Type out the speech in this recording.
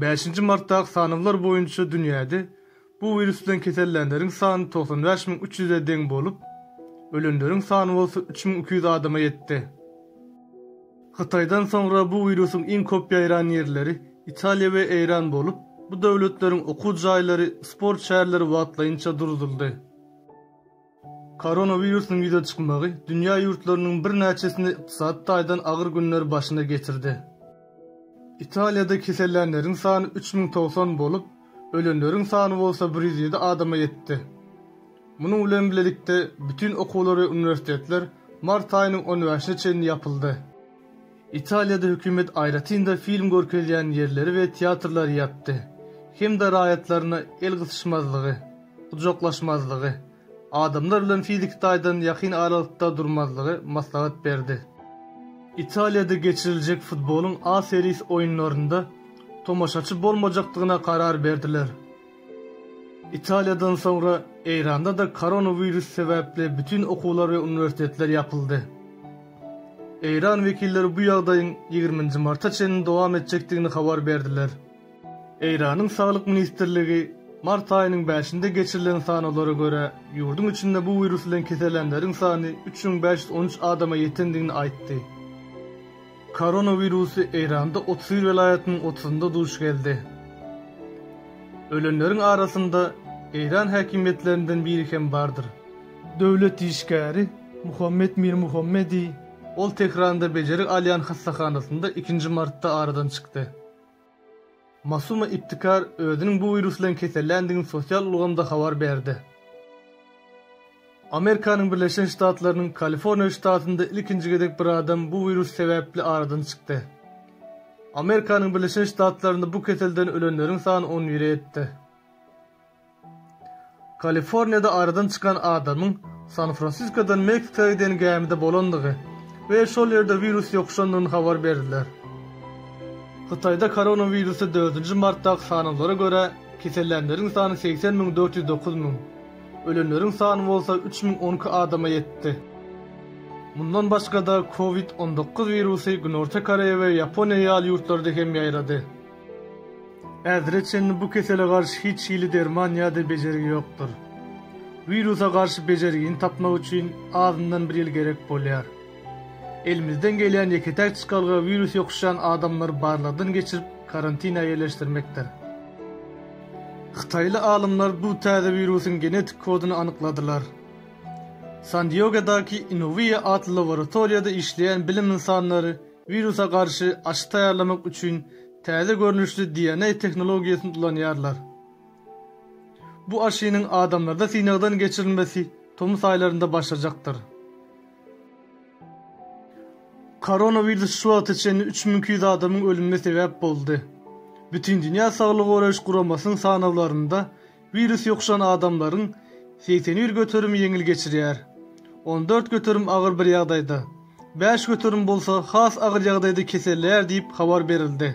Bäşinji martdaky sanawlar boýunça dünýäde bu wirus bilen kesellänleriň sany togsan bäş müň üç ýüze deň bolup, ölenleriň sany bolsa üç müň iki ýüz adama ýetdi. Hytaýdan soňra bu wirusyň iň köp ýaýran ýerleri Italiýa we Eýran bolup, bu döwletleriň okuw jaýlary, sport şäherleri wagtlaýynça durduldy. Koronawirusyň ýüze çykmagy dünýä ýurtlarynyň birnäçesini ykdysady taýdan agyr günler başyna getirdi. Italiýada kesellänleriň sany üç müň togsan bolup, ölenleriň sany bolsa bir ýüz ýedi adama ýetdi. Munuň bilen bilelikde, bütin okuwlar we uniwersitetler mart aýynyň on bäşine çenli ýapyldy. Italiýada hökümet aýratyn-da film görkezýän ýerleri we teatrlary ýapdy hem-de raýatlaryna el gysyşmazlygy, gujaklaşmazlygy, adamlar bilen fiziki taýdan ýakyn aralykda durmazlygy maslahat berdi. Italiýada geçiriljek futbolyň A Series oýunlarynda tomaşaçy bolmajakdygyna karar berdiler. Italiýadan soňra Eýranda-da koronawirus sebäpli bütin okuwlar we uniwersitetler ýapyldy. Eýran wekilleri bu ýagdaýyň ýigriminji marta çenli dowam etjekdigini habar berdiler. Eýranyň Saglyk ministrligi mart aýynyň bäşinde geçirilen sanawlara görä, ýurduň içinde bu wirus bilen kesellänleriň sany üç müň bäş ýüz on üç adama ýetendigini aýtdy. Koronawirusy Eýranda otuz bir welaýatynyň otuzynda duş geldi. Ölenleriň arasynda Eýran häkimiýetlerinden biri hem bardyr. Döwlet işgäri Muhammet Mirmuhammedi. Ol Tähranda bejergi alýan hassahanasynda ikinji martda aradan çykdy. Masuma Ibtikar özüniň bu wirus bilen keselländigini sosial ulgamda habar berdi. Amerikanyň Birleşen Ştatlarynyň Kaliforniýa ştatynda ilkinji gezek bir adam bu wirus sebäpli aradan çykdy. Amerikanyň Birleşen Ştatlarynda bu keselden ölenleriň sany on bire ýetdi. Kaliforniýada aradan çykan adamyň San-Fransiskodan Meksika giden gämide bolandygy we şol ýerde wirus ýokuşandygyny habar berdiler. Hytaýda koronawirusy dördünji martdaky sanawlara görä, kesellänleriň sany segsen müň dört ýüz dokuz müň, ölenleriň sany bolsa üç müň on iki adama ýetdi. Mundan başga-da, Covid on dokuz wirusy Günorta Koreýa we Ýaponiýa ýaly ýurtlarda hem ýaýrady. Häzire çenli bu kesele garşy hiç hili derman ýa-da bejergi ýokdur. Wirusa garşy bejergini tapmak üçin azyndan bir ýyl gerek bolýar. Elimizden gelýän ýeke-täk çykalga wirus ýokuşýan adamlary barlagdan geçirip karantina ýerleşdirmekdir. Hytaýly alymlar bu täze wirusyň genetik koduny anykladylar. San-Diegodaky Inovia atly laboratoriýada işleýän bilim ynsanlary Wirusa garşy aşy taýýarlamak üçin täze görnüşli DNA tehnologiýasyny ulanýarlar. Bu aşynyň adamlarda synagdan geçirilmesi tomus aýlarynda başlajakdyr. Koronawirus şu wagta çenli üç müň iki ýüz adamyň ölümine sebäp boldy. Bütindünýä Saglygy goraýyş guramasynyň sanawlarynda Wirus ýokuşan adamlaryň segsen bir göterimi ýeňil geçirýär, on dört göterim agyr bir ýagdaýda, bäş göterim bolsa has agyr ýagdaýda keselleýär diýip habar berildi.